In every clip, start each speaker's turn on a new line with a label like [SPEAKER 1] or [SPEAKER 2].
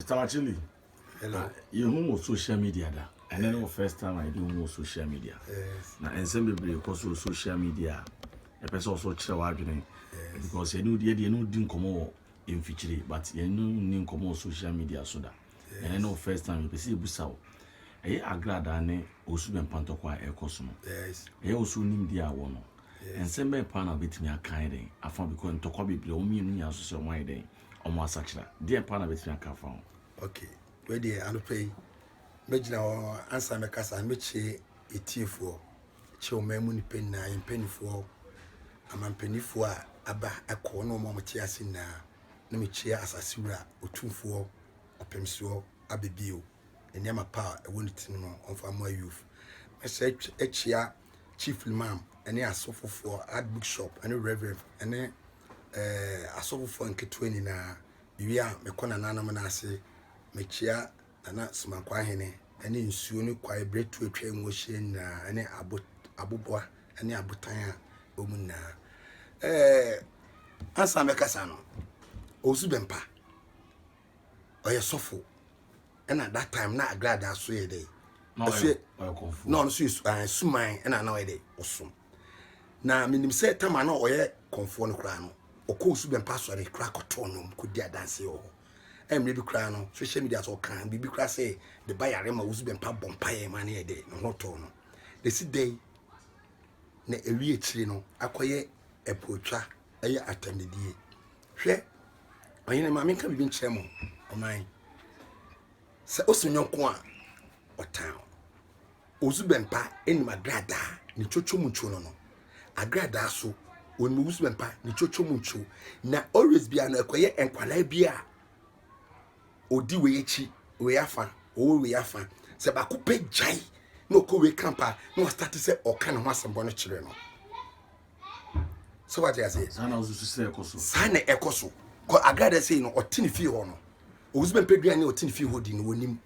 [SPEAKER 1] Mr Achilli, Hello. Ah,
[SPEAKER 2] yɛhu wɔ social
[SPEAKER 1] media da. Ɛnɛ ne wɔ first time a yɛde hu wɔ social media. Yes. Na ɛnsɛm
[SPEAKER 2] bebree kɔ
[SPEAKER 1] so wɔ social media a ɛpɛ sɛ ɔso kyerɛ w'adwene. Yes. Because yɛne wodi yɛde yɛne wodi nkɔmmɔ wɔ mfikyire but yɛne nni nkɔmmɔ wɔ social media so da. Yes. Ɛnɛ ne wɔ first time yɛpɛ sɛ yɛbusa wo. Ɛyɛ agradaa ne osu bɛn pantɔkwa a ɛkɔ so no. Yes. Ɛyɛ wɔ so
[SPEAKER 2] nimdeɛ
[SPEAKER 1] a wɔ no. Yes. Ɛnsɛm bɛn paa na wobɛtumi akan dɛn afa because ntɔkwa bebree wɔn mmienu nyinaa so sɛ wɔn ayɛ dɛn. wɔn asakyera deɛ paa na bɛtumi aka afa ho ok wei
[SPEAKER 2] deɛ anɔpa yi mɛgyina hɔ ansa mɛkasa no mɛkyie ɛtiefoɔ kyɛ ɔman mu nipa nyinaa yɛ mpanimfoɔ amampanifoɔ a aba ɛkɔ ne ɔma ɔmte ase nyinaa na mekyia asase wura ɔtumfoɔ ɔpemsoɔ abɛbio nneɛma pa a ɛwɔ ne tirim no ɔmfa mmoa youth mɛsɛ akyia chief limam ɛne asofofoɔ adbook shop ɛne reverend ɛne ɛɛ asɔfofoɔ nketewa nyinaa, mewie a mekɔ nananom no ase, mekyia Nana Somakwahene ne nsuo ne kwae berɛ tu atwa mu ahyia nyinaa ne abo aboboa ne abotan a ɛwɔ mu nyinaa. Ɛɛ ansa mɛkasa no, Owusu Bɛmpa, ɔyɛ sɔfo ɛna that time na Agradaa so yɛ dɛ, na ɔno nso yɛ suman ɛna na ɔyɛ dɛ ɔsom. na menim sɛ tama na ɔyɛ kɔnfoɔ no koraa no ɔkɔɔ su bɛmpa asɔre koraa kɔtoo nom kɔdi adanseɛ wɔ hɔ mmerɛ bi koraa no social media sɛ ɔka biribi koraa sɛ de ba yare ma wosu bɛmpa bɔ mpaeɛ ma ne yɛ dɛ ne ho tɔɔ no na ɛsi dɛn na ɛwie akyire no akɔyɛ ɛpootwa ɛyɛ atɛmdidie hwɛ ɔyene ma menka biribi nkyerɛ mo ɔman sɛ ɔsi nyɔnko a ɔtan Osu bɛn pa enim agradaa ne twotwo mu ntwo no no? Agradaa so onim osu bɛn pa ne twotwo mu ntwo. Na always bia no ɛkɔyɛ nkwalaa bi a odi wei akyi wei afa ɔwɔ wei afa sɛ baako pɛ gyae na ɔkɔ wei camp a na wastate sɛ ɔka ne ho asɛmbɔ no kyerɛ no sɛ wate aseɛ
[SPEAKER 1] saa na ɛkɔ so
[SPEAKER 2] kɔ agradaa sei no ɔte ne fie hɔ no Ɔwusu bɛn pɛ aduane a ɔte ne fie hɔ di no, ɔnim.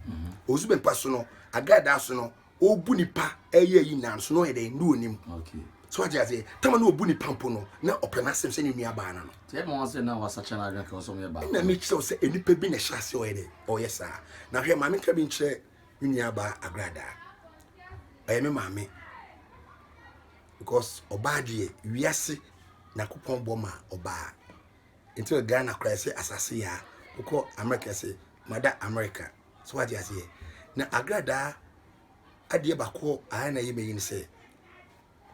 [SPEAKER 2] Ɔwusu bɛn pɛ so no, agradaa so no, ɔrebu nipa ɛyɛ ayi nyinaa no so no, ɔyɛ dɛn, no ɔnim. So wagye
[SPEAKER 1] aseɛ?
[SPEAKER 2] Tama na ɔbu nipa mpo no, na ɔpɛ n'asɛm sɛ ne nua baa no no.
[SPEAKER 1] Ɛna mekyerɛ wo sɛ nnipa
[SPEAKER 2] bi na ɛhyɛ aseɛ ɔyɛ dɛn, ɔyɛ saa. Na hwɛ, ma menka bi nkyerɛ me nua baa agradaa. Ɔyɛ me maame. Because ɔbaa deɛ, wiase Nyankopɔn bɔ ma ɔbaa. Nti wɔ Ghana koraa ɛsɛ asase yɛ a wokɔ Amerika ɛsɛ mada Amerika so wate aseɛ na agradaa adeɛ baako a na ɛyɛ mɛyi ne sɛ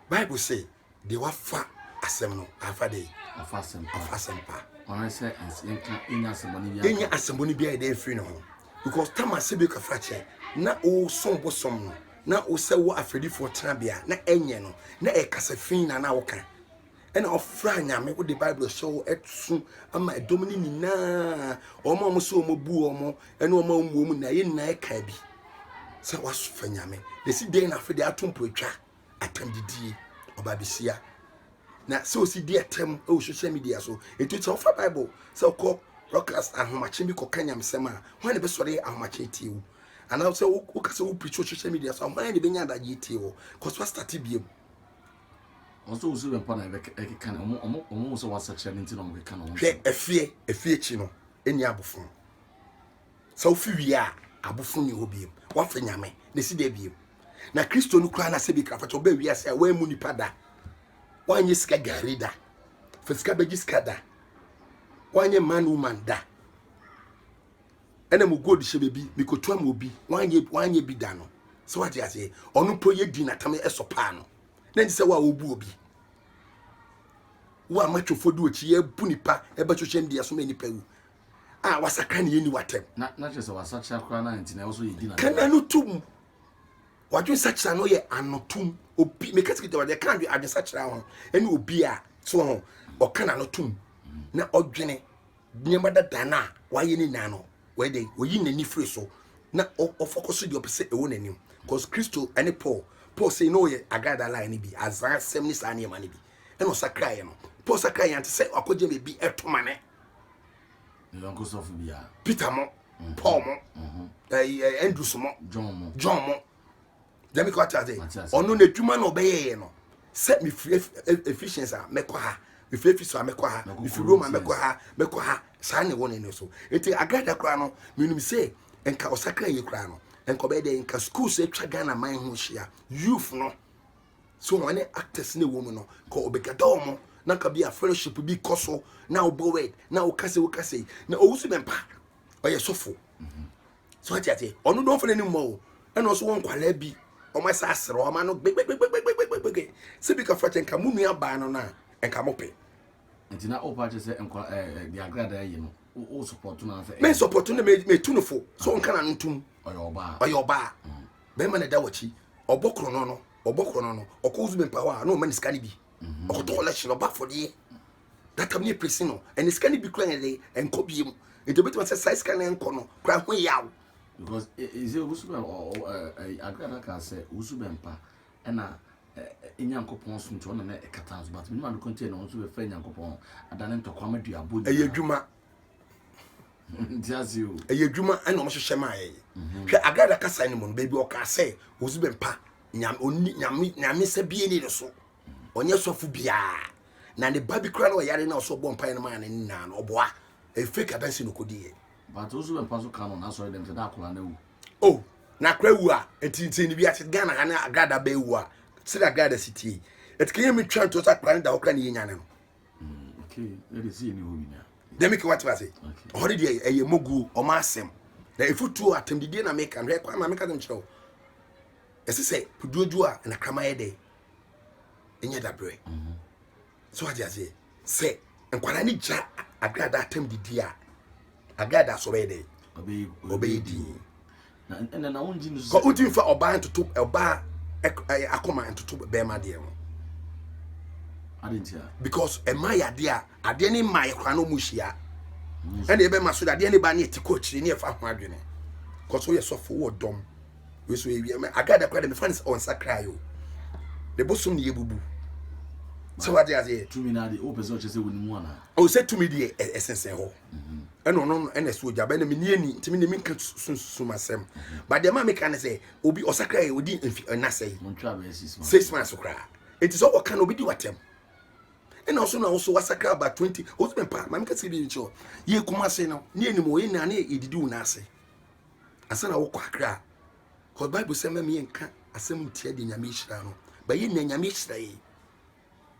[SPEAKER 2] Bible sɛ deɛ wafa asɛm no afa de afa
[SPEAKER 1] asɛm pa
[SPEAKER 2] ɔno sɛ
[SPEAKER 1] nka ɛnya asɛmbɔ no biara ɛnya asɛmbɔ no
[SPEAKER 2] biara ɛdɛ mfiri ne ho because tama sɛ bi kafra kyɛ na ɔsom bosom no na wosɛ wɔ afɛdifoɔ tenabea na ɛnyɛ no na ɛkasa fi na na woka ɛna ɔfra nyame wode bible hyɛ wo ɛso ama ɛdɔm no nyinaa wɔn a wɔn sɛ wɔn bu wɔn ɛne wɔn a wɔn wɔn nyinaa yɛ nyinaa ɛka bi sɛ wasofa nyame na si dɛn na afei de ato mpo atwa atam didie ɔba besia na sɛ osi di ɛtɛm ɛwɔ social media so etu sɛ ɔfa bible sɛ ɔkɔ broadcast ahomakye bi kɔka nyamesɛm a wɔn na bɛsɔre ahomakye tie wo anaa sɛ wokasa wo preach wɔ social media so a wɔn na bɛnya adagye tie wɔ kɔso astate biem.
[SPEAKER 1] wɔn sɛ wɔsuro bɛmpa na ɛkeka no wɔn wɔn wɔn wɔn sɛ wɔasakyera no nti na wɔn keka no wɔn hwɛ ɛfeɛ ɛfeɛ
[SPEAKER 2] akyi no ɛni abofo sɛ wofi wie a abofo ni hɔ biem wafa nyame na ɛsi dɛ biem na kristo no koraa na sɛ bi krafa kyɛ ɔbɛ wie ase a wɔammu nipa da wɔanyɛ sika gari da fa sika bɛgye sika da wɔanyɛ man woman da ɛna mo gold hyɛ baabi mekotoa mu obi wanyɛ wanyɛ bi da no sɛ wate aseɛ ɔno mpo yɛ di natam ɛsɔ paa no na nti sɛ wo a wobu obi wo a matwofo de okyi yɛ bu nipa ɛbɛ social media so ma nipa wu a wasakra ne yɛ ni watɛm na na kyerɛ sɛ wasakyera
[SPEAKER 1] koraa na nti na ɛwɔ so yɛ di na kana no tum
[SPEAKER 2] wadwe sakyera no yɛ anotum obi meka sikita wadwe ka adwe adwe sakyera ho ɛne obi a so ho ɔka na no tum na ɔdwene Nneɛma dada no a wayɛ no nyinaa no, ɔyɛ dɛ, oyi n'ani firi so, na ɔfɔkɔ so deɛ ɔpɛ sɛ ɛwɔ n'anim. Cause Kristo ne Paul, Paul sei na ɔyɛ Agrada line no bi, azan asɛm ne saa nneɛma no bi, ɛna ɔsakraeɛ no. Paul sakraeɛ yɛ ante sɛ wakɔgye baabi ɛto ma ne.
[SPEAKER 1] Ne yɔnko sɔfo bi a. Peter mo,
[SPEAKER 2] Paul mo, Andrews mo, John mo. gyami kɔ ate ase ɔno n'adwuma na ɔbɛyɛɛ no sɛ mefiri efficient a mɛkɔ ha mefiri efisɔ a mɛkɔ ha mefiri roma mɛkɔ ha mɛkɔ ha saa na ɛwɔ n'ani so eti agrada koraa no menim sɛ nka ɔsakra yie koraa no nka ɔbɛyɛ dɛ nka schools atwa ghana man ho hyia youth no so wɔn ne actors na ɛwɔ mu no ka ɔbɛgada wɔn na ka bi a fellowship bi kɔ so na ɔbɔ word na ɔkasa ɔkasa na ɔwusu bɛmpa ɔyɛ sɔfo. Mm -hmm. so ate ase ɔno dɔfo no anim o ɛna ɔso wɔ nkwadaa bi wɔn asa asere wɔn ano gbegbegbegbegbegbegbegbe sɛ bi ka fɔ kyɛ nka mo nua baa no na nka mo pɛ. nti na
[SPEAKER 1] ɔpa kyɛ sɛ nkwa ɛɛ de agradaa yi no o sɔpɔtɔ na sɛ. mɛ sɔpɔtɔ na mɛ mɛ tu
[SPEAKER 2] no fo so nka na no tum. ɔyɛ ɔbaa ɔyɛ ɔbaa mm. bɛrima na ɛda wɔkyi ɔbɔ korɔ no no ɔbɔ korɔ no no ɔkɔ ozu bɛ mpa hɔ a na ɔma ne sika no bi ɔkɔtɔ ɔlɛhyɛ ɔba afɔdeɛ. that time ne presi no ɛne sika no bi kura yɛn de ɛnkɔ bie mu nti obetuma sɛ saa sika no ɛnkɔ no kura ho yaw. because
[SPEAKER 1] ɛsɛ wusu bɛ ɛɛ agorɔ na kan sɛ wusu bɛ mpa ɛna ɛɛ nyankopɔn so nti ɔna na ɛkata nso but minnu adokɔ nti ɛna wɔn nso bɛ fɛ nyankopɔn adane ntɔkwa ama dua abo nyinaa. ɛyɛ adwuma. nti ase o. ɛyɛ adwuma ɛna wɔn hyehyɛ maa
[SPEAKER 2] yɛ mhm. hwɛ agorɔ na kasa ne mu no beebi ɔka sɛ wusu bɛ mpa nyame nyame nyame sɛ bie ne ne so. ɔnyɛ sɔfo biara na ne ba bi kura na ɔyare na ɔsɔ bɔ mpaeɛ no maa ne nyinaa no ɔboa ɛfɛ ka bɛnsi no kɔdi yɛ. bàtò nso bɛmpa
[SPEAKER 1] so ka no na asɔre dɛm sɛ dá akora na ewu. o oh, na
[SPEAKER 2] akora ewu a nti nti ni bi ase ghana ha ne agrada bɛɛ ewu a sɛde agrada si tie ɛtikɛ yɛ mi twɛn to sɛ akora ne da hɔ kora ne yɛ nya ne
[SPEAKER 1] no. dɛm ke wate
[SPEAKER 2] ase ɔhɔ de deɛ ɛyɛ moguo ɔma asɛm na ɛfotuo atɛmdidie na meka no hwɛ kwan ma meka sɛm kyerɛ wo ɛsɛ sɛ puduodwo a nakrama yɛ dɛ ɛnyɛ dabrɛ mhm. so ade aseɛ sɛ nkwadaa no gyina agrada atam didi a agrada so bɛyɛ dɛ ɔbɛyɛ din
[SPEAKER 1] kɔ wotumi fa ɔbaa ntoto
[SPEAKER 2] ɔbaa akoma ntoto bɛrima deɛ ho
[SPEAKER 1] because ɛma yɛ adeɛ
[SPEAKER 2] a adeɛ ne ma yɛ koraa na ɔmu hyia ɛna ɛbɛma so adeɛ ne ba ne ɛti kɔ akyire ne ɛfa ho adwene kɔ so yɛ sɔfo wɔ dɔm Wei so yɛ wiame agada kora de mefa ne sɛ ɔnsakrae o ne bosom ne yɛbubu sɛ wade aseɛ tumi no adeɛ wopɛ sɛ ɔkyɛ
[SPEAKER 1] sɛ wonim ana o sɛ tumi deɛ
[SPEAKER 2] ɛsensɛn hɔ mhm. ɛna ɔno ɛna ɛso ogya bɛna meni ani ntumi ne menka sunsum asɛm mhm. ba deɛ ma meka ne sɛ obi ɔsakra yɛ ɔdi mfi ɛnasɛe six months koraa ɛti sɛ ɔka no obi di watɛm ɛna ɔso na ɔso wasakra ba 20 ɔsɛ mpa ma meka sɛ bi nkyɛ yɛ kuma ase no ne anim ɔyɛ nane yɛdidi wo no ase ansa na wokɔ akra a cause bible sɛ mɛmi nka asɛm ntia de nyame ahyira no bɛyɛ nea nyame ahyira yɛ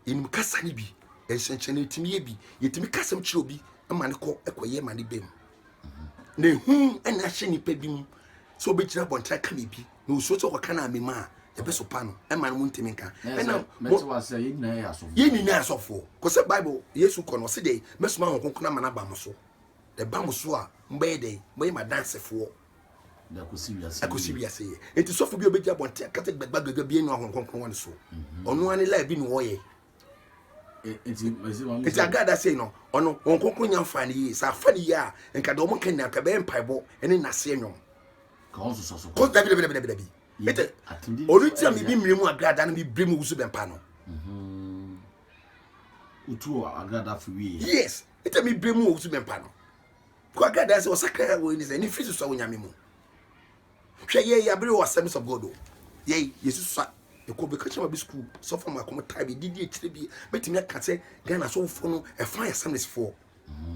[SPEAKER 2] yɛnim kasa no bi nhyɛnkyɛn yɛtumi yɛ bi yɛtumi kasɛm kyerɛ obi ma ne kɔ ɛkɔyɛ ma ne bɛm na ehu ɛna ahyɛ nipa bi mu sɛ obɛgyina abɔntra ka me bi na osuo sɛ ɔkɔka no amema a yɛbɛsopa no ɛma no mu ntumi nka ɛna yɛ nyinaa asɔfoɔ kɔ sɛ bible yesu kɔ no ɔse dɛ mɛsoma ho kronkron ama no aba mo so Ɛba mo so a, mobɛyɛ dɛn? Mobɛyɛ m'adansefoɔ
[SPEAKER 1] akɔsi wiase yɛ. Enti sɔfo bi a
[SPEAKER 2] ɔbɛgya abɔnten aka sɛ gbagba gbagba bi anu ahoro kronkron wɔ ne so. Mhm. Ɔno ara ne laa bi na ɔyɛ. Nti agada sei no, ɔno wɔn kronkron nya mfaa no yie. Sɛ afa no yie a, nka deɛ wɔn ka nyinaa nka ɛbɛyɛ mpaebɔ ne nnaseɛ nnwom. Kɔ dabi dabi dabi dabi. Ete, ɔno ti a mebi mmiri mu agrada no mebiri mu wusu bɛmpa no. Mhm.
[SPEAKER 1] Yes. ɛtɛ mi bere
[SPEAKER 2] mu ɔwusu mɛmpa no kɔ agradaa sɛ ɔsakra wɔ ɛni sɛ ne firi susua onyame mu hwɛ yɛ yɛ abere wɔ asɛms of god o yɛ yɛ susua ɛkɔ bɛka kyerɛ ma bi sukuu sɔfo ma kɔm taa bi didi akyire bi mɛtumi aka sɛ ghana sɔfofoɔ no ɛfa yɛ assemblies foɔ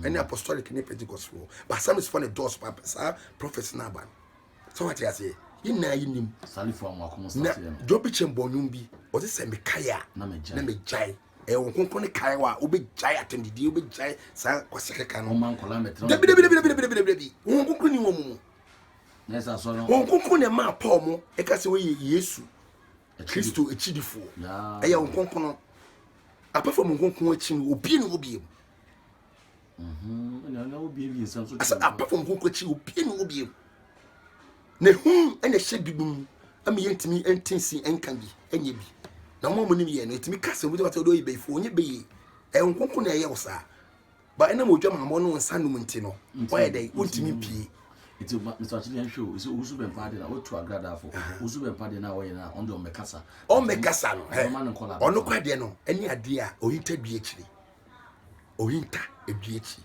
[SPEAKER 2] ɛne apostolic ne pentecost foɔ ba assemblies foɔ ne dɔɔso pa saa prophets no aba no sɛ wate aseɛ yɛ nyinaa yɛ nim na
[SPEAKER 1] dwɔ bi kyɛn bɔnwom
[SPEAKER 2] bi ɔte sɛ mekae a na megyae ɛyɛ wɔn kronkron ne kae wa wobɛgyae atɛmdidie wobɛgyae saa kwasɛ kɛka no dabidabidabidabidabidabi wɔn kronkron ni wɔn mu
[SPEAKER 1] wɔn kronkron na ɛmaa paul
[SPEAKER 2] mo ɛka sɛ wɔyɛ yesu kristo akyidifoɔ ɛyɛ wɔn kronkron no apɛfam wɔn kronkron akyi no obie ne wɔ bie mu
[SPEAKER 1] asɛ apart from ho kwakyi
[SPEAKER 2] obie ne wɔ biem na hu ɛna ɛhyɛ binom ama yɛntumi ɛnte nsi ɛnka bi ɛnyɛ bi na mo a mo nim yɛ no ɛtumi ka sɛ obi tɛma sɛ ɔdɔ yɛ bɛyifoɔ ɔnyɛ bɛyie ɛho nkonko na ɛyɛ wo saa ba ɛnam odwa mammɔ no nsa nom nti no wɔyɛ dɛ wontumi mpie nti nsakye yɛn hwɛ o
[SPEAKER 1] sɛ wusu bɛn pa de na wotu agrada afo wusu bɛn pa de na wɔyɛ na ɔno de ɔmɛkasa ɔmɛkasa
[SPEAKER 2] no ɔno kɔ adeɛ no ɛne adeɛ a ɔyita dua akyiri Ohinta edua ekyi.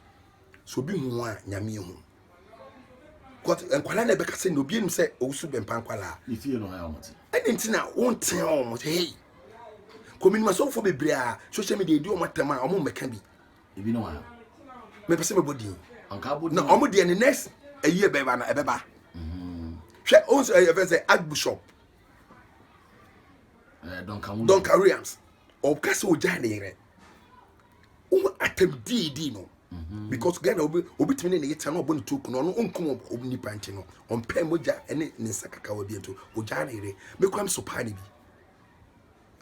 [SPEAKER 2] Sɛ obi hu wo a, Nyame ehu. Kɔt nkwadaa na ɛbɛka sɛ na obi enim sɛ owusu bɛmpa nkwadaa. Ne
[SPEAKER 1] fie
[SPEAKER 2] no ha wɔn
[SPEAKER 1] ti.
[SPEAKER 2] Ɛna nti na
[SPEAKER 1] wɔn
[SPEAKER 2] ti a wɔn
[SPEAKER 1] sɛ hei.
[SPEAKER 2] Kɔminimasɔnfo bebree a social media edi wɔn atam a wɔn mmɛka bi. Ebi no
[SPEAKER 1] ha. Mepɛ sɛ
[SPEAKER 2] mebɔ din. Anka abɔ din. Na wɔn
[SPEAKER 1] deɛ ne next
[SPEAKER 2] ɛyi ɛbɛba no ɛbɛba. Mhm. Hwɛ wɔn sɛ ɛyɛ fɛ sɛ Archbishop. Eh, Duncan Williams. Duncan Williams. ɔka sɛ ɔgyae ne yerɛ wohu atam diidi no mhm. because ghana obi obi tumi ne ne yɛtɛ na ɔbɔ ne tuo kuna ɔno ɔnkum nipa nti no ɔmpɛ mogya ne ne nsa kakawa bi nti ɔgyae ne yerɛ mekura me so paa ne bi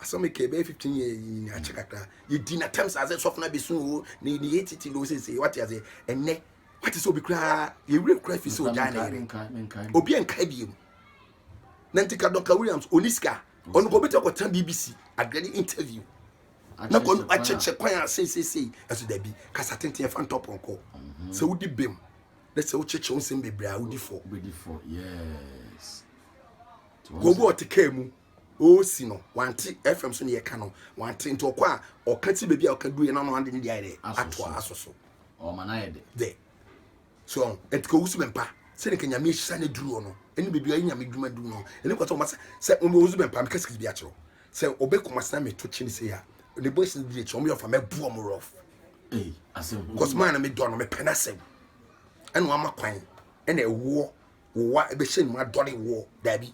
[SPEAKER 2] asɛm mi kɛɛ bɛyɛ fifteen yɛ nyina akyɛ kakra yɛdi na tam sɛ asɛ sɔfo no abɛsu o ne ne yɛ titi no sese wate ase ɛnɛ wate sɛ obi koraa yɛwerɛ kora fi sɛ ɔgyae ne yerɛ obi ankae biom na nti kadɔka williams ɔni sika ɔno kɔ bɛtɛ kɔtena bbc adeɛ de interview na kɔ akyɛkyɛ kwan a seisesei ɛso dabi kasa tenten ɛfa ntɔ pɔnkɔ mhm. sɛ wodi bem na sɛ wokyɛkyɛ wo nsɛm bebree a wodi fɔ kɔgu ɔte kaa mu ɔsi no wante fm so ne yɛka no wante nti ɔkɔ a ɔka ti baabi a ɔka duɛ na ɔno ade ne deɛ ayɛ dɛ atoa aso so
[SPEAKER 1] dɛ
[SPEAKER 2] So ɔn ɛti kɔ wusu bɛmpa sɛ ne ka nyame ahyira ne duru ɔno ɛne bɛbi ɔyɛ nyame dwuma duru no ɛne kɔ sɛ ɔma sɛ sɛ ɔmɛ wusu bɛmpa meka sikiri bi akyerɛw sɛ ɔbɛ kɔma sena me to kyi ne sɛ ya ne bɔ ɛsi ne diri akyerɛ ɔmɛ yɛ ɔfa mɛ bu ɔmɛ rɔf kɔs maa na me dɔ no me pɛ na sɛm ɛna ɔma kwan ɛna ɛwoɔ wowa ɛbɛhyɛ nima dɔre woɔ daabi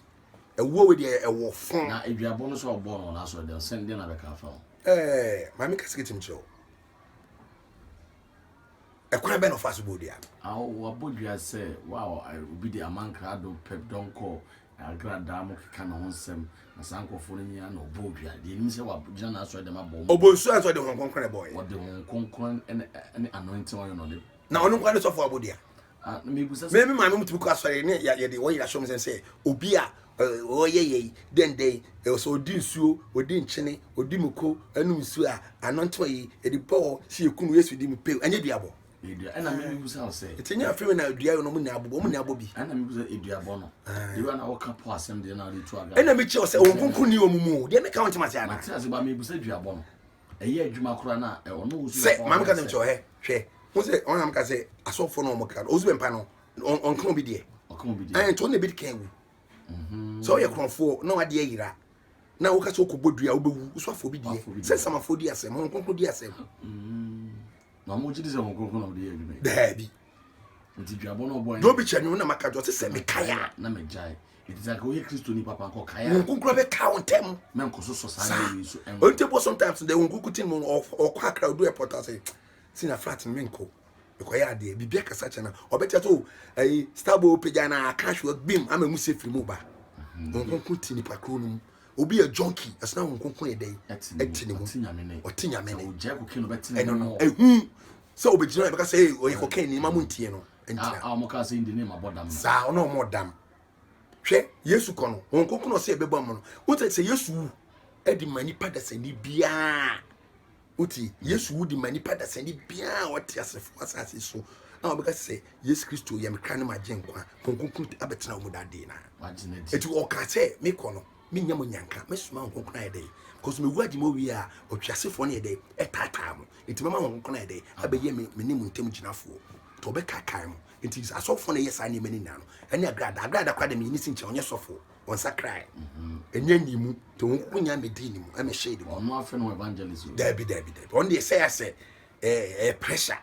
[SPEAKER 2] ɛwoɔ wɛ deɛ ɛwɔ fɔn na aduabɔ no sɛ ɔbɔ
[SPEAKER 1] no na sɛ ɔdɛ sɛ ndɛ na bɛka afa ho ɛɛ maame
[SPEAKER 2] ka sikiri kyim kyerɛw Ɛkwan bɛn na ɔfaa so bɔɔ dua no? A Wɔabɔ dua
[SPEAKER 1] sɛ wo a obi de aman krado pɛ dɔn kɔ agradaa mu keka ne ho nsɛm, na saa nkurɔfoɔ no nyinaa na ɔbɔɔ dua. Deɛ ɛnim sɛ wɔagyina n'asɔredɛm abɔ wɔn. Ɔbɔ nsuo a sɛ ɔde Honhom Kronkron
[SPEAKER 2] na ɛbɔeɛ. Ɔde Honhom Kronkron
[SPEAKER 1] ne ne anointing oil na ɔde. Na ɔno nko ara ne sɔfoɔ
[SPEAKER 2] abɔdua. Ah,
[SPEAKER 1] me me maame mutumi kɔ asɔre
[SPEAKER 2] ne yɛde wɔn yɛrɛ asɔm sɛn sɛ obi a ɔyɛ yɛ yi dɛndɛn ɛsɛ ɔdi nsuo ɔdi nkyene ɔdi muko ɛnum nsuo a ano ntoma yi ɛde bɔɔ si ekunu yesu di mu pew ɛnyɛ duabɔ. ɛna mi mi
[SPEAKER 1] busa sɛ. ètò nyɛ afei na dua
[SPEAKER 2] yɛ no ɔmo nyɛ abobɔ ɔmo nyɛ abɔ bi. ɛna mi busa eduabɔ
[SPEAKER 1] no. ebi wa na ɔka pɔ asɛm deɛ na ɔde tu aga. ɛna mi kyerɛ sɛ wɔn
[SPEAKER 2] kunkun ni wɔn mu deɛ mi ka wɔn ti ma se ana. ma ti ase ba mi busa eduabɔ
[SPEAKER 1] no. ɛyɛ adwuma koraa na ɔno wo so bɛfa maame ka ne nkyɛw hɛ
[SPEAKER 2] hwɛ ho sɛ ɔno nam ka sɛ asɔfoɔ no wɔn kra no ɔso bɛ mpa no ɔnka obi deɛ ɛn nti ɔno na ebi ka ewu mhm. sɛ ɔyɛ korɔfoɔ na wadeɛ yira na woka sɛ wokɔbɔ dua wobɛwu woso afɔ bi deɛ sɛ samafoɔ di asɛm ho nkonko di asɛm mhm.
[SPEAKER 1] na wɔn gyi di sɛ wɔn nkonko na wɔde yɛ adwuma daabi dobi kyɛ ne wo na maka dɔ te
[SPEAKER 2] sɛ mekae a
[SPEAKER 1] nkonkura bɛka wo ntɛm ɔnti bo sometimes dɛ
[SPEAKER 2] nkonku tin mu ɔkɔ akra ɔdu airport ase sina flat no menkɔ mekɔyɛ adeɛ biribia kasa kyɛ no ɔbɛkyɛ so ayi starbo pagya no aka hwewa bim ama mu sɛ firi mu ba nkonku ti nipa kuro no mu Obi yɛ junkie, ɛsena ho nkonko yɛ dɛn? Ɛte ne mu. Ɔte nyame ne. Ɔte nyame ne. Sɛ ɔgyae kokain no
[SPEAKER 1] bɛte ne mu. Ɛno no. Ehu
[SPEAKER 2] sɛ ɔbɛgyina yɛ bɛka sɛ ee ɔyɛ kokain ni ma mo ntie no. Ntina. A ɔmo kaa sɛ
[SPEAKER 1] ndi ne ma bɔ dam. Saa ɔno ɔmo dam.
[SPEAKER 2] Hwɛ Yesu kɔ no ho nkonko na ɔsɛ ɛbɛbɔ mo no. Wotɛ sɛ Yesu wu ɛde ma nipa dasani biara. Wotie, mm. Yesu wudi ma nipa dasani biara a ɔte asefo asase so a ɔbɛka sɛ Yesu Kristo yɛ me kra ne magye nkwa nkonkron abɛtena wɔn dade na eti ɔka
[SPEAKER 1] sɛ
[SPEAKER 2] mekɔ no menya mo nyanka mesoma wɔn nkonkron ayɛ dɛ because mewu agye mo wie a ɔtwe asefoɔ no yɛ dɛ ɛtaataa mo eti mɛma wɔn nkonkron ayɛ dɛ abɛyɛ me me ne mo ntam gyinafoɔ to ɔbɛkaakaa mo eti asɔfoɔ na ɛyɛ saa nneɛma no nyinaa no ɛne agrada agrada kora de meyɛ ne si nkyɛn ɔnyɛ sɔfoɔ wɔnsakrae ɛnyɛ ne mu nti wɔn koko nya medi ne mu ɛmɛ hyɛ ne mu ɔno afɛ no evangelist
[SPEAKER 1] o daabi daabi daabi ɔno
[SPEAKER 2] deɛ sɛyɛ sɛ ɛɛ ɛyɛ pressure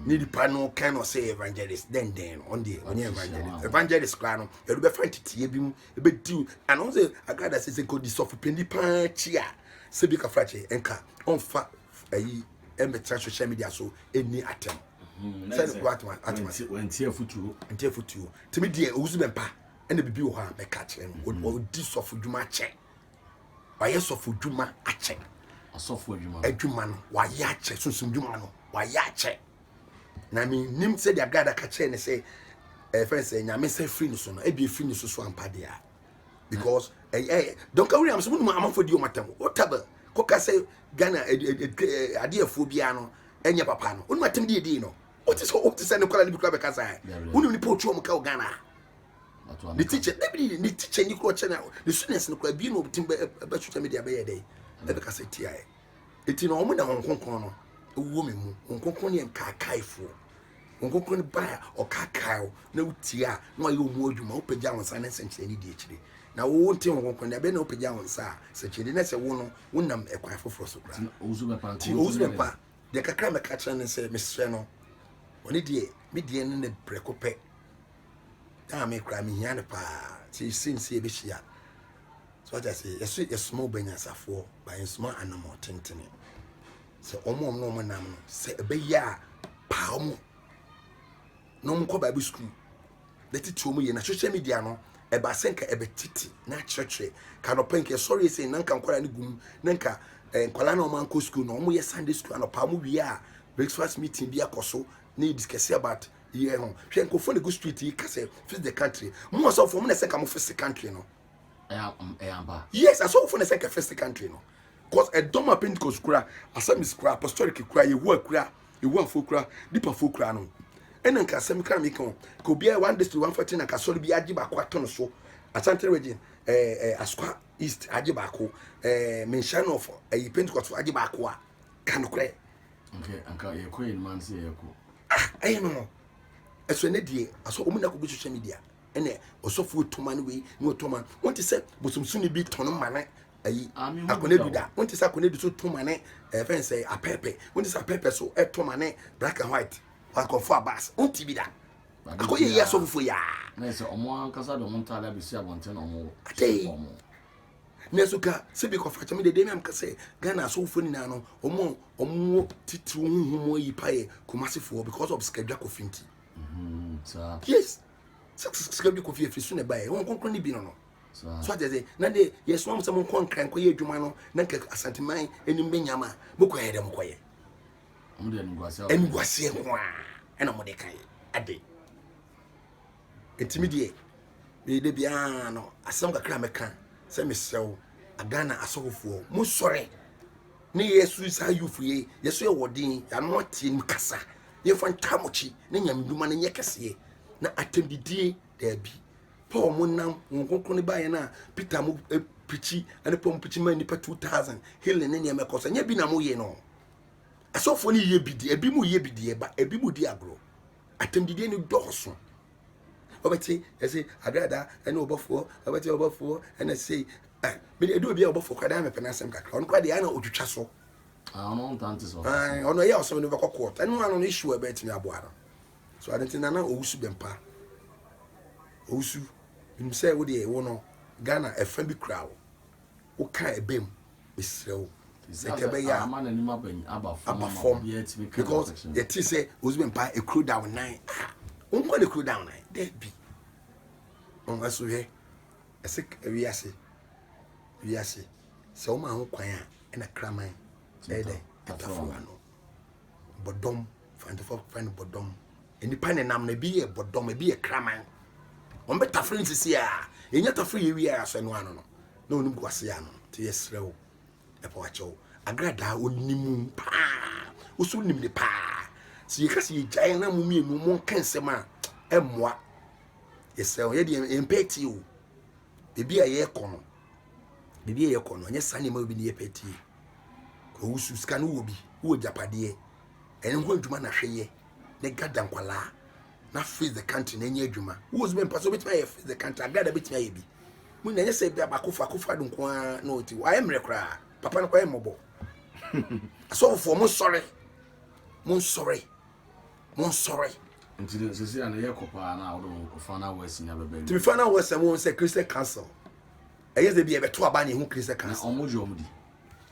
[SPEAKER 2] ne nipa no kan na ɔsɛ evangelist dɛn dɛn no ɔno deɛ ɔnyɛ evangelist evangelist koraa no ɛde bɛfa nteteɛ bi mu ɛbɛdi o ana wɔn sɛ agrada sɛ sɛ nkɔdi sɔfo panyin paa akyi a sɛ bi kafra kyɛ nka ɔnfa ɛyi ɛmɛtena social media so ɛni atɛm sɛ ne kura atoma atoma nti
[SPEAKER 1] afutuo nti afutuo
[SPEAKER 2] tumi deɛ owusu bɛ mpa. ɛna bibi wɔ hɔ a mɛka akyerɛ no mm-hmm. ɔdi sɔfo dwuma akyɛ wayɛ sɔfo dwuma akyɛ asɔfo adwuma
[SPEAKER 1] adwuma no
[SPEAKER 2] wayɛ akyɛ sunsun dwuma no wayɛ akyɛ na mi nim sɛ deɛ gada ka kyerɛ ne sɛ ɛfɛn sɛ nyame sɛ firi ne so no ebi efiri ne so so ampa deɛ because ɛyɛ eh, eh, dɔnka wuli amuso mu numa amafo di wɔn atam o taba kɔka sɛ ghana eh, adeɛfoɔ biara no ɛnyɛ papa no onuma atam deɛ deɛ no. wote sɛ wote sɛ ne nkwadaa no bi kora bɛka saa wonim nipa ɔtwe ɔmo ka wɔ ghana ne teacher dabi ne teacher ni kora ɔkyɛ na ne students no kora bi na ɔbɛtim bɛ social media bɛyɛ dɛ ɛbɛka sɛ tia ɛ eti na ɔmo na wɔn nkonkron no ɛwɔ mi mu wɔn nkonkron yɛ nkaakaefoɔ wɔn nkonkron no baa ɔkaakae o na wotia na wɔayɛ ɔmo adwuma wopagya wɔn nsa ne nsɛnkyerɛ ne di akyire na wo nte wɔn nkonkron na ɛbɛn na wopagya wɔn nsa a sɛnkyerɛ ne sɛ wo no wonam ɛkwan foforɔ so kora ti owusu
[SPEAKER 1] bɛpa Deɛ kakra
[SPEAKER 2] mɛka akyerɛ no sɛ mesrɛ no ɔne deɛ me deɛ no ne prɛko pɛ na me koraa mehia no paa sɛ yɛsɛ nsi yɛbɛhyia so ata sɛ yɛso yɛsoma ɔbanyansafoɔ ba yɛnsoma anamɔ tentene sɛ ɔmo ɔmo na ɔmo nam no sɛ ɛbɛyɛ a paa ɔmo na wɔn kɔ bible school na titi wɔn yie na social media no ɛba sɛ nka ɛbɛ titi na akyerɛkyerɛ ka nɔpɛ nka ɛsɔre ese na nka nkwadaa no gum na nka ɛɛ eh, nkwadaa na wɔn ankɔ school na wɔn yɛ sunday school anɔpa wɔn wie a breakfast meeting bi akɔ so na yɛ discuss about yɛ ho hwɛ nkɔfo na gu street yi ka sɛ fix the country mo wɔ sɛ ɔfɔ mo na ɛsɛ ka mo fix the country no yes asɔfo na sɛ ka first country no cause ɛdɔm a pentecost kura assemblies kura apostolic kura yehowa kura yehowafoɔ kura dipafoɔ kura no ɛna nka asɛm kra mi kan ka obiara one district one factory na kasɔre bi agye baako ato no so asante region ɛɛ eh, ɛɛ eh, asoka east agye baako ɛɛ eh, menhyɛn nɔfo ɛyi pentecost agye baako a ka no korɛ. okay anka
[SPEAKER 1] yɛ kɔ yɛ numan se yɛ kɔ. ah ɛyɛ no no
[SPEAKER 2] ɛsɛ ne deɛ asɔ wɔn nyinaa kɔ gu social media. ɛna ɔsɔfo otu ma no wei na ɔtɔ ma no wɔn ti sɛ bosomsoni bi tɔn ma no ayi akɔnɛdu da wɔn ti sɛ akɔnɛdu so to ma no ɛfɛn sɛ apɛɛpɛ wɔn ti sɛ apɛɛpɛ so ɛtɔ ma no black and white wakɔfo abas wɔn ti bi da akɔyɛ yi asɔfofo yi aa. na ɛsɛ ɔmo ankasa
[SPEAKER 1] de ɔmo ntaade abɛsi abɔnten na ɔmo hyɛ ɔmo.
[SPEAKER 2] nanso ka sɛ bi kɔfa kyɛm dede nam ka sɛ ghana asɔfofo nyinaa no ɔmo ɔmo titiriw huhu mu ayi pa yɛ kɔmasefoɔ because of sikadwa kɔfi nti. Mm-hmm,
[SPEAKER 1] yes
[SPEAKER 2] sika bi kɔ fie firi so na ɛbaeɛ wɔn nkonkron ne bi no no so ate ase na deɛ yɛsoma mo sɛ monkɔ nkra nkɔyɛ adwuma no na nka asanteman anim bɛnya ma mokɔyɛ dɛ mokɔyɛ
[SPEAKER 1] ɛnguaseɛ nko
[SPEAKER 2] a ɛna mode kae ade ɛtumi deɛ meyɛdɛ biara no asɛm kakra mɛka sɛ mesrɛ wo aghana asɔfofoɔ mosɔre Ne yɛsu yi saa youth yei yɛso yɛ wɔden yɛano ateɛ nim kasa yɛmfa ntamokyi ne nyamedwuma no nyɛ kɛseɛ na atɛmdidie daabi paul mo nam wɔn kronkron ne baeɛ no a peter mo eh, pikyi ne paul mo pikyi ma nnipa 2000 healing ne nneɛma ɛkɔ so ɛnyɛ bi na moyɛ no asɔfoɔ no yɛ bi deɛ ebi mu yɛ bi deɛ ba ebi mu di agorɔ atɛmdidie no dɔɔso Wobɛte ɛse agrada ɛne ɔbɔfoɔ, wobɛte ɔbɔfoɔ ɛna sei. Eh, mede ɛdu obi a ɔbɔfoɔ kora daa mepɛ n'asɛm kakra. Ɔno kora deɛ ana ɔtwitwa so. Ah, ɔno ntante
[SPEAKER 1] so. Ah, ɔno ɛyɛ ɔsɛm no bɛkɔ
[SPEAKER 2] court. Ɛno ano no issue a ɛbɛtumi aboa no. So adanti nana owusu bɛmpa. Owusu, nim sɛ wo deɛ wo no Ghana ɛfa bi kura wo. Wo ka ɛbɛm. mesrɛ wo sɛ ka ɛbɛyɛ a
[SPEAKER 1] aba fam
[SPEAKER 2] because yɛte sɛ ozi bɛ mpa ekuro da wo nan a wonkɔ ne kuro da wo nan daabi ɔnwa so hwɛ ɛsɛ wiase wiase sɛ woma ho kwan a ɛna kraman ɛyɛ dɛ ɛtafo ano Bɔdɔm, Fransefoɔ frɛ no bɔdɔm. Nnipa nenam no, ebi yɛ bɔdɔm, ebi yɛ kraman. Wɔn bɛ tafere no sisi a, yɛnya tafere yɛ wie a, sɛ no ano no, na wɔn gu ase ano. Nti yɛsrɛ wo, ɛpɔ wakyɛw. Agradaa onimu paa, woso nim ne paa. Sɛ yɛka sɛ yɛgyae na mo mmienu mo nka nsɛm a, ɛmmoa. Yɛsrɛ wo, yɛde yɛmpɛ atie o. Ebi a yɛkɔ no, baabi a yɛkɔ no ɛnyɛ saa nneɛma obi ne yɛ pɛ tie kɔ wusu sika no wɔ bi wɔ gyapadeɛ ɛne ho adwuma na hwɛ yɛ ne gada nkwalaa na face the country na ɛnyɛ adwuma wɔ so bɛ mpa so bɛtumi ayɛ face the country agada bɛtumi ayɛ bi mu na ɛnyɛ sɛ bi abako fa ko fa do nko ara na ɔti wayɛ mmerɛ koraa papa no kɔyɛ mmɔbɔ asɔfofoɔ mo nsɔre mo nsɔre
[SPEAKER 1] monsɔre. Nti no sisi a no yɛ kɔ paa na wode wo fa na west nya bɛbɛ. Nti fa na west ɛwɔ sɛ
[SPEAKER 2] Christian council ɛyɛ sɛ bi ɛbɛto aba na ehu Christian council. Na wɔn gye wɔn di.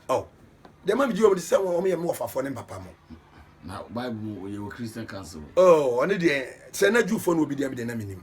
[SPEAKER 1] Oh,
[SPEAKER 2] deɛ ma mi gye wɔn di sɛ wɔn yɛ mi wɔ fafɔ ne mpapa mo. Na Bible
[SPEAKER 1] mu yɛ wɔ Christian council. Oh, ɔne deɛ
[SPEAKER 2] sɛ na Jewfoɔ no wɔ bi deɛ mi deɛ na mi nim.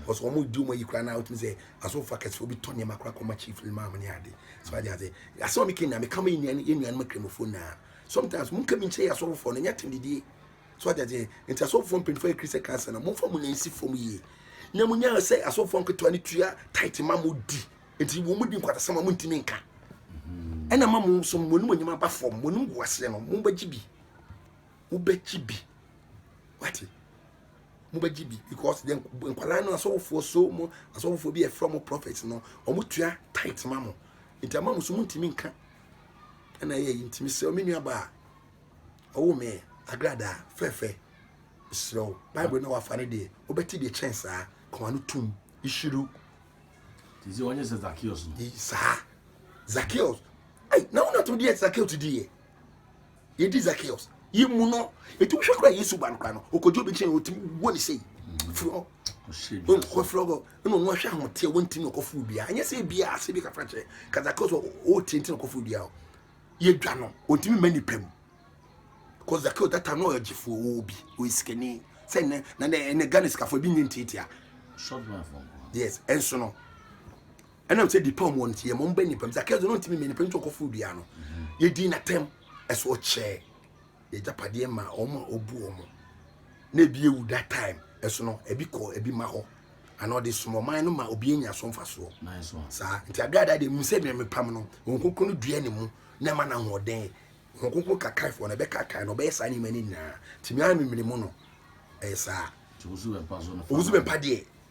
[SPEAKER 2] because wɔn di wɔn ayi koraa na wotumi sɛ asɔfo akɛse obi tɔ nneɛma koraa kɔma chief limam ne ade so adi ase ase wɔn kɛ nyame kama enuan enuan ma kramofo na sometimes mo nkɛmi nkyɛn yɛ asɔfo no nyɛ te didie so adi ase nti asɔfo mpanyinfo yɛ kristian kansa na mo nfa mo nan si fam yie na mo nyɛ sɛ asɔfo nketewa ne tua tight ma mo di nti wɔn di nkwatasɛm a mo ntumi nka ɛna ma mo nso mo anim anim aba fam mo anim gu aseɛ no mo bɛgye bi mo bɛgye bi wate. mobɛgye bi because then nkwadaa no asɔfofoɔ so mo asɔfofoɔ bi ɛfrɛ mo prophet no wɔn tua tight ma mo nti ama mo so mo ntumi nka ɛna ɛyɛ yi ntumi sɛ ɔmo nua baa ɔwɔ mɛ agradaa fɛfɛ srɛ o bible na wafa ne deɛ wobɛte deɛ kyɛn saa kɔma no tum ehyiru. ti
[SPEAKER 1] sɛ wɔnyɛ sɛ zakios no. saa
[SPEAKER 2] zakios ɛy na wɔn ato deɛ zakios deɛ. yɛdi zakeus yi mu no ɛtumi hwɛ kora yesu ba no kora no ɔkɔgye obi kyɛn ɔtumi bɔ ne sei firi hɔ ɔfiri hɔ ɛna ɔno ahwɛ ahoteɛ wɔntimi ɔkɔforo biaa ɛnyɛ sɛ biaa sɛ bi kafra kyerɛ ka zakeus ɔɔtie nti na ɔkɔforo biaa hɔ yɛdwa no ɔntumi ma nipa mu kɔ zakeus data no ɔyɛ gyefoɔ ɔwɔ bi ɔyɛ sikani sɛ nnɛ na nnɛ ghana sikafoɔ bi nyɛ ntiatia
[SPEAKER 1] yes ɛnso no
[SPEAKER 2] Ɛnam sɛ Dipam wɔ no nti, yɛma ɔba nnipa mu. Zakeo de, na ɔntumi mmɛn nnipa mu nti ɔkɔforo dua no. Yɛdii n'atɛm, ɛso ɔkyɛɛ yɛn agyapadeɛ maa wɔn a ɔbu wɔn. Na ebi awu that time, ɛso no, ebi kɔɔ ebi mma hɔ, anaa ɔde som ɔman no ma obi anya so mfasoɔ. Saa nti
[SPEAKER 1] aberɛ adaa deɛ, mehu
[SPEAKER 2] sɛ deɛ mepam no, Honhom Kronkron no dua ne mu na ɛma no ahoɔden. Honhom Kronkron kakaefoɔ no, ɛbɛkaakae no, ɔbɛyɛ saa nneɛma no nyinaa. Nti me ara memene mu no, ɛyɛ saa.
[SPEAKER 1] Owusu-Bempah deɛ,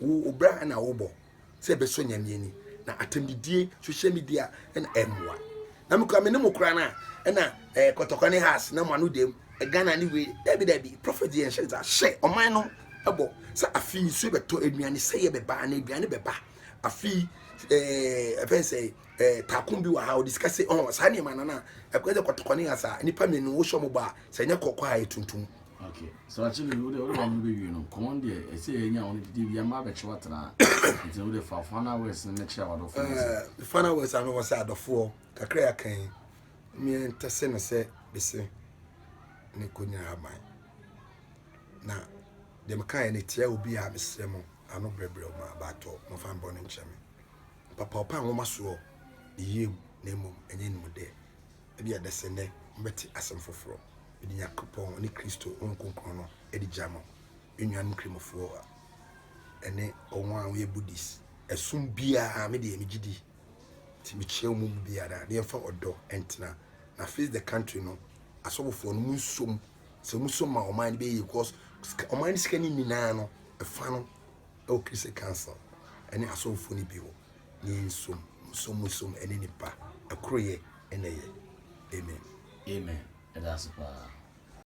[SPEAKER 2] Wo obra na wobɔ sɛ ɛbɛsɔ nyame ani na atɛmdidie social media na ɛmmoa na mekura me ne mo kora no a ɛna eh, kɔtɔkɔ ne has na mo ano dam eh, ghana ne wei dabi dabi prophet yɛ nhyɛ nsa hyɛ ɔman no ɛbɔ sɛ afei nsuo bɛtɔ aduane sɛ yɛ bɛba na aduane bɛba afei eh, ɛfɛn sɛ eh, taako bi wɔ ha ɔde sika sɛ ɔn saa nneɛma no no a ɛkɔyɛ sɛ kɔtɔkɔ ne has a nnipa mmienu wohyɛ mo bɔ a sɛ ɛnyɛ kɔkɔ a ɛyɛ tuntum Okay. So
[SPEAKER 1] actually, we don't want to be you know. Come on, dear. I say, you know, only the young man bet you what na. It's only the five fun hours in the chair. What of uh, the fun hours? I know
[SPEAKER 2] what's out of four. Kakra ya kan. Me and Tessena say, be say, ne kunya haban. Na dem kan ne tia obi a mesrɛ mo ano brɛbrɛ mo abatɔ mo fa mbɔ no nkyɛn me papa ɔpa nwoma soɔ ne yie mu na mmom ɛnyɛ nim dɛ Ebia ɛbɛsɛ nnɛ mobɛte asɛm foforɔ. Mede Nyankopɔn ne Kristo Honhom Kronkron no di gya mo, me nuanom Kramofɔɔ ne wɔn a wɔyɛ Buddhist. Ɛsom biara, me deɛ megye di. Nti mekyea wɔn mu biara, na yɛmfa ɔdɔ ntena. Na face the country no, asɔfofoɔ no, monsom. Sɛ mosom a, ɔman no bɛyɛ yie, cause ɔman no sika no nni no ara no, ɛfa no Ɛwɔ Christian Council ne asɔrefo no bi hɔ, na yɛn som, mo som, mo som ne ne ba,
[SPEAKER 1] ɛkoroyɛ
[SPEAKER 2] na ɛyɛ. Amen. Amen. Yɛda ase paa.